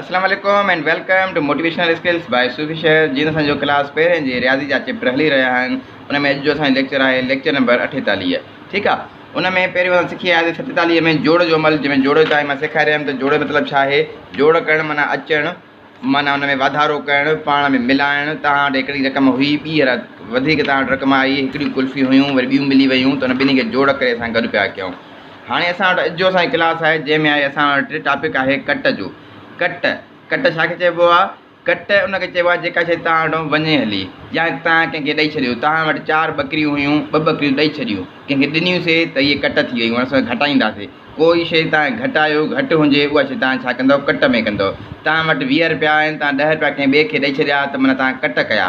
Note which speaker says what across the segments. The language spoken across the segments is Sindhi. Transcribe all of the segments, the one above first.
Speaker 1: اسلام عليڪم and welcome to motivational skills by Sufi Sher جي اسان جو ڪلاس پهرين جي رياضي جا چيپٽر هلي رهيا آهن ان ۾ اڄ جو اسان جو ليڪچر آهي ليڪچر نمبر اٺيتاليهه ٺيڪ آ ان ۾ پهريون اسان سکي آياسي ستيتاليهه ۾ جوڙ جو عمل جنهن ۾ جوڙ تائين مان سيکاري رهيم ته جوڙ مطلب ڇا آهي جوڙ ڪرڻ معنيٰ اچڻ معنيٰ ان ۾ واڌارو ڪرڻ پاڻ ۾ ملائڻ توهان وٽ هڪڙي رقم هئي ٻي هر وڌيڪ توهان وٽ رقم آئي هڪڙيون ڪلفيون هيون وري ٻيون ملي ويون ته ان ٻنهي کي جوڙ ڪري اسان گڏ پيا ڪيون هاڻي اسان وٽ اڄ جو اسان جي ڪلاس آهي جنهن ۾ آهي اسان وٽ ٽاپڪ آهي ڪٽ جو ڪٽ ڪٽ ڇا کي چئبو آهي ڪٽ ان کي چئبو آهي جيڪا شي توهان وٽان وڃي هلي يا توهان ڪنهن کي ڏئي ڇڏيو توهان وٽ چار ٻڪريون هيون ٻه ٻڪريون ڏئي ڇڏيون ڪنهن کي ڏنيون سي ته هي ڪٽ ٿي ويون اسان گهٽائيندا سي ڪوئي شي توهان گهٽايو گهٽ هجي اها شي توهان ڇا ڪندو ڪٽ ۾ ڪندو توهان وٽ ويهه روپيا آهن توهان ڏهه روپيا ڪنهن ٻئي کي ڏئي ڇڏيا ته معنيٰ توهان ڪٽ ڪيا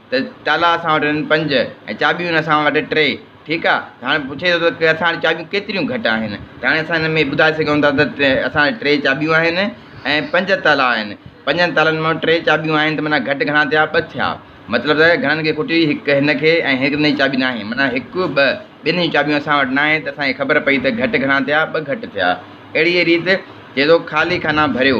Speaker 1: ته تالا اسان وٽ آهن پنج ۽ چاٻيون آهن اسان وٽ ٽي ٺيڪ آ ته هاڻي پڇي ٿو ته اسان وٽ چاٻيون ڪيتريون گهٽ آهن ته هاڻي اسان هن ۾ ٻڌائي سگهون ٿا ته اسان وٽ ٽي چاٻيون آهن ۽ پنج تالا آهن پنجن تالن مان ٽي چاٻيون آهن ته معنيٰ گهٽ گهڻا ٿيا ٻه ٿيا مطلب ته گهڻن کي کوٽي هڪ هن کي ۽ هڪ هن جي چاٻي نه آهي معنيٰ هڪ ٻه ٻنهي جون چاٻيون اسان وٽ ناهي ته اسان کي خبر پئي ته گهٽ گهڻا ٿيا ٻه گهٽ ٿيا اهڙيء ريت چئي ٿو خالي خانا ڀريو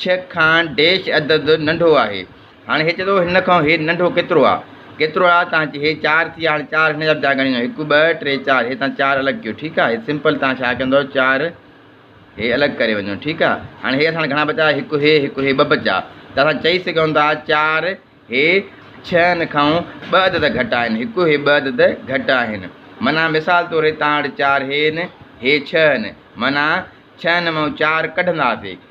Speaker 1: ڇهه کان ڊيش عدد ننڍو آهي. هاڻي هي چئي ٿو هن کان هي ننڍو ڪيترو آ؟ ڪيترو آ تان چئي هي چار ٿي هاڻي چار هن جا به چار ڳڻيندو هڪ ٻه ٽي چار هي تان چار الڳ ڪيو ٺيڪ آ هي سمپل تان ڇا ڪندو چار هي الڳ ڪري وڃو ٺيڪ آ هاڻي هي اسان گهڻا بچا هڪ هي هڪ هي ٻه بچا ته اسان چئي سگهون ٿا چار هي ڇهن کان ٻه عدد گهٽ آهن هڪ هي ٻه عدد گهٽ آهن معنيٰ مثال طور هي تان وٽ چار هين هي ڇهن معنيٰ ڇهن مان چار ڪڍنداسي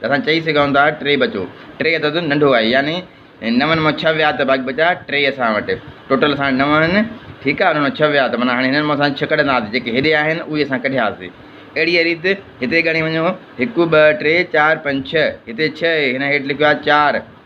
Speaker 1: ته اسان چئي سگهون ٿا ٽي بچو ٽي عدد ننڍو آهي يعني نون مان ڇهه ويا ته باقي بچا ٽي اسان وٽ ٽوٽل اسان وٽ نو آهن ٺيڪ آهي انهن مان ڇهه ويا ته معنيٰ هاڻي هنن مان اسان ڇهه ڪڍنداسين جيڪي هيڏي آهن اهي اسان ڪڍياسين اهڙيء ريت هتي ڳڻي وڃو هڪ ٻه ٽي چار پنج ڇهه هتي ڇهه هن هيٺ لکيو آهي چار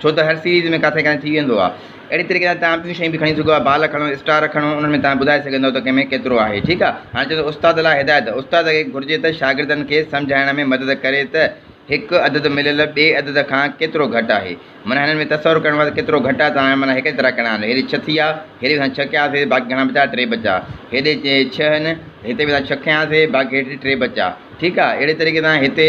Speaker 1: ڇو ته هر سيريز ۾ ڪاٿي ڪاٿي ٿي ويندو آهي اهڙي طريقي سان توهان ٻيون شيون به کڻي سگهو ٿا بال کڻو اسٽار کڻو انهن ۾ توهان ٻڌائي سگهندؤ ته ڪنهن ۾ ڪيترو آهي ٺيڪ آهي هاڻي چئجو استاد لاء هدايت استاد کي گهرجي ته شاگردن کي سمجهائڻ ۾ مدد ڪري ته هڪ عدد مليل ٻئي عدد کان ڪيترو گهٽ آهي معنيٰ هنن ۾ تصور ڪرڻو آهي ته ڪيترو گهٽ آهي ته هاڻي معنيٰ هيڪڙي طرح ڪرڻا آهن هيڏي ڇهه ٿي آهي هيڏي اسان ڇهه ڪياسي باقي گهڻا بچا ٽي بچا هيڏي ڇهه آهن هتي به اسان ڇهه کنياسي باقي هيٺ ٽي بچا ٺيڪ آهي اهڙي طريقي سان هتي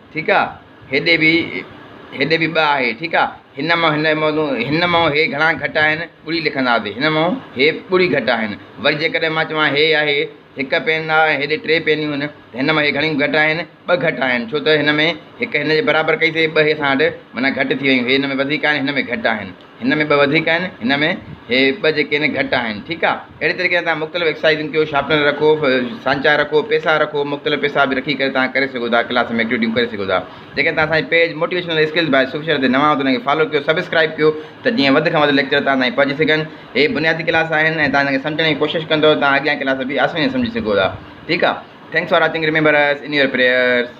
Speaker 1: ٺيڪ آ هيڏي به هيڏي به ٻه آهي ٺيڪ آ هن مان هن موضوع هن مان هي گهڻا گهٽ آهن ٻڙي لکنداسي هن مان هي ٻڙي گهٽ آهن وري جيڪڏهن مان چوان هي آهي هڪ پين آ هيڏي ٽي پينيون آهن ته هن مان هي گهڻيون گهٽ آهن ٻه گهٽ آهن ڇو ته هن ۾ هڪ هن جي برابر ڪئيسي ٻه هي اسان وٽ معنيٰ گهٽ ٿي ويون هي هن ۾ وڌيڪ آهن هن ۾ گهٽ آهن هن ۾ ٻه وڌيڪ آهن هن ۾ هي ٻه جيڪي آهن گهٽ آهن ٺيڪ آ اهڙي طريقي سان تهان مختلف ايڪسرسائزون ڪيو شاپنر رکو سانچا رکو پيسا رکو مختلف پيسا به رکي ڪري تهان ڪري سگهو ٿا ڪلاس ۾ ايڪٽيوٽيون ڪري سگهو ٿا جيڪي تهان اسان جي page motivational skills by Sufi Sher تي نوان آهيو ته ان کي فالو ڪيو سبسڪرائب ڪيو ته جيئن وڌ کان وڌ ليڪچر تهان تائين پهچي سگهن هي بنيادي ڪلاس آهن ۽ تهان ان کي سمجهڻ جي ڪوشش ڪندو تهان اڳيان ڪلاس به آساني سان سمجهي سگهو ٿا ٺيڪ آ thanks for watching remember us in your prayers